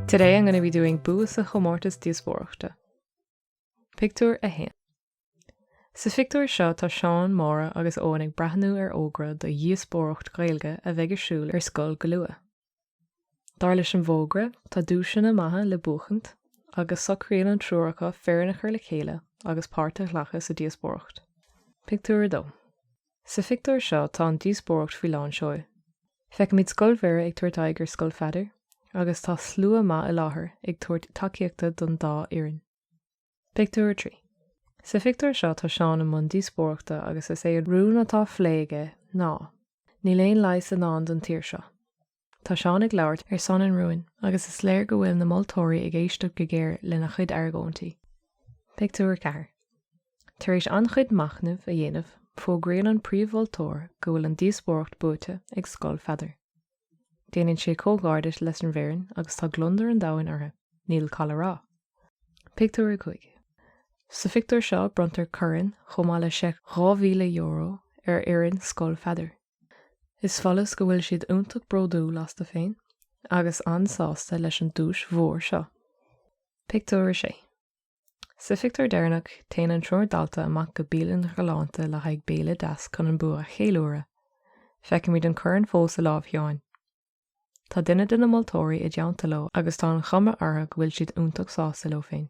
Today I'm gonna be doing bua sa chomórtas díospóireachta. Pictiúr 1. Sa phictiúr seo tá Seán, Máire agus Eoin ag breathnú ar fhógra do dhíospóireacht Ghaeilge a bheidh ar siúl ar scoil go luath. Dar leis an bhfógra, tá duaiseanna maithe le buachaint agus socraíonn an triúr acu foireann a chur le chéile agus páirt a ghlacadh sa díospóireacht. Pictiúr 2 Sa phictiúr seo tá an díospóireacht faoi lán seoil. Feicimid Scoil Mhuire ag tabhairt aghaidh ar Scoil Pheadair agus tá slua maith i láthair ag tabhairt tacaíochta don dá fhoireann. Pictiúr 3 Sa phictiúr seo tá Seán i mbun díospóireachta agus is é an rún atá á phlé aige ná, Níl aon leigheas i ndán don tír seo. Tá Seán ag labhairt ar son an rúin agus is léir go bhfuil na moltóirí ag éisteacht go géar lena chuid argóintí. Pictiúr 4 Tar éis an-chuid machnaimh a dhéanamh, fógraíonn an príomh-mholtóir go bhfuil an díospóireacht buaite ag Scoil Pheadair. Déanann sé comhghairdeas leis an bhfoireann agus tá gliondar an domhain orthu, níl call a rá. Pictiúr 5. Sa phictiúr seo bronntar corn chomh maith le seic €2,000 ar fhoireann Scoil Pheadair. Is follas go bhfuil siad iontach bródúil astu féin agus an-sásta leis an duais mhór seo. Pictiúr 6. Sa phictiúr deireanach, téann an triúr dalta amach go bialann ghalánta le haghaidh béile deas chun an bua a cheiliúradh. Feicimid an corn fós i lámh Sheáin. Tá duine de na moltóirí i dteannta leo agus tá an chuma orthu go bhfuil siad iontach sásta leo féin.